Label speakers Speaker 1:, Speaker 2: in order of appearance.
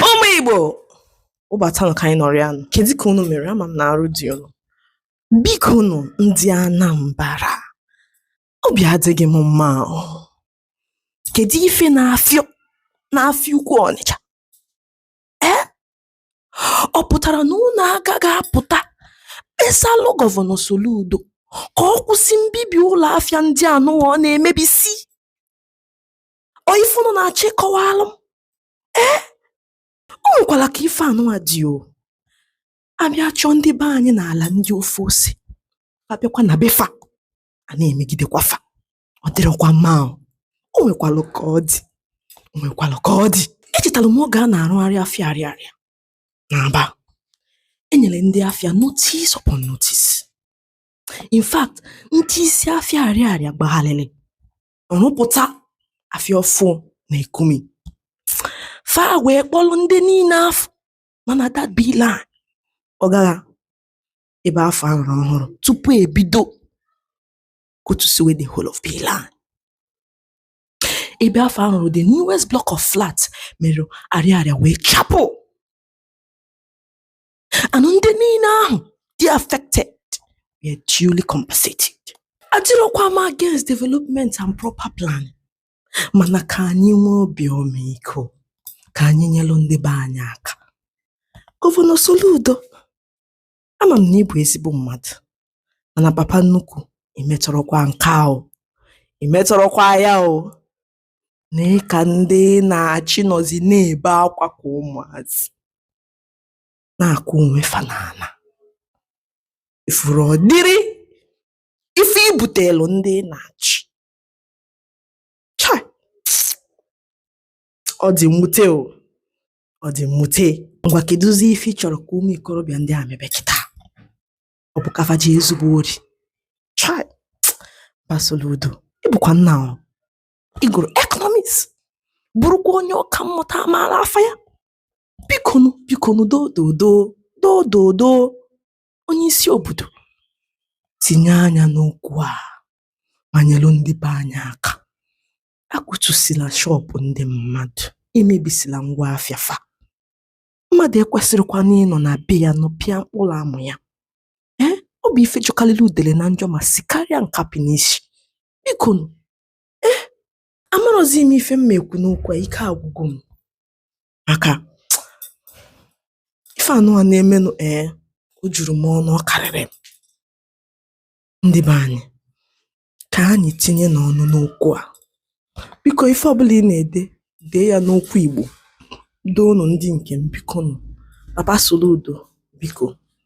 Speaker 1: ụmụ igbo ụbata nka anyị nọrọ ya nụ kedu ka unu mere ama m na arụ dị unu biko nụ ndị anambara obi adịghị m mma o kedu ife na-afịọ n'afịa ukwu ọnịcha ee ọ pụtara na unu agaghị apụta kpesalụ gọvanọ soludo ka ọ kwụsị mbibi ụlọ afịa ndị anụwa ọ na-emebisi ọ ife unu na-achị kọwalụ m ee o nwekwara ka ife anụnwa dị o abịa chụọ ndị be anyị n'ala ndị ofe ose abịakwa na be fa a na-emegidekwa fa ọ dịrọkwa mma o o nwekwalụ ka ọ dị o nwekwalụ ka ọ dị echetara m oge a na-arụgharị afịa arịarịa n'aba enyere ndị afịa notice upon notice in fact ndị isi afịa arịarịa gbagharịrị rụpụta afịa ọfụ na ekumi fa wee kpọrọ ndị niile afụ mana that b line ọ gara ebe afụ a rụrụ ọhụrụ tupu ebido kụtusiwe the whole of b line ebe afụ a rụrụ the newest block of flat mere arịarịa wee chapụ and ndị niile ahụ dị affected were duly compensated adịrọkwa m against development and proper plan mana ka anyị nwee obi ọmịiko ka anyị nyelụ ndị be anyị aka gọvanọ Soludo ama m na ị bụ ezigbo mmadụ mana papa nnukwu imetọrọkwa nke a o imetọrọkwa ya o nee ka ndị ị na-achị nọzi na-ebe akwa ka ụmụazị na-akụ onwe fa n'ala ị fụrụ ụdịrị ife i butelu ndị ị na-achị Chai! ọ dị mwute o ọ dị mwute ngwa kedụzi ife ị chọrọ ka ụmụ ikorobịa ndị a mebe kịta ọ bụ ka fa jee zube ori Chai! but soludo ị bụkwa nna o ị gụrụ ekọnọmiks bụrụkwa onye ọka mmụta amaala afa ya bikonu bikonu dododo dododo onye isi obodo tinye anya n'okwu a ma nyelu ndị be anyị aka akụtusila shọpụ ndị mmadụ emebisila ngwa afịa fa mmadụ ekwesịrọkwanụ ịnọ na be ya nọpịa mkpụrụ amụ ya ee ọ bụ ife jọkalịlị udele na njọ ma sikarịa nkapị n'isi bikonu ee amarọzi m ife m ma ekwu n'okwu a ike agwụgo m maka ife anụwa na-emenụ ee eh, o juru m ọnụ ọ karịrị m ndị be anyị ka anyị tinyenụ ọnụ n'okwu a biko ife ọbụla ị na-ede dee ya n'okwu Igbo doonụ ndị nke m biko nụ baba Soludo biko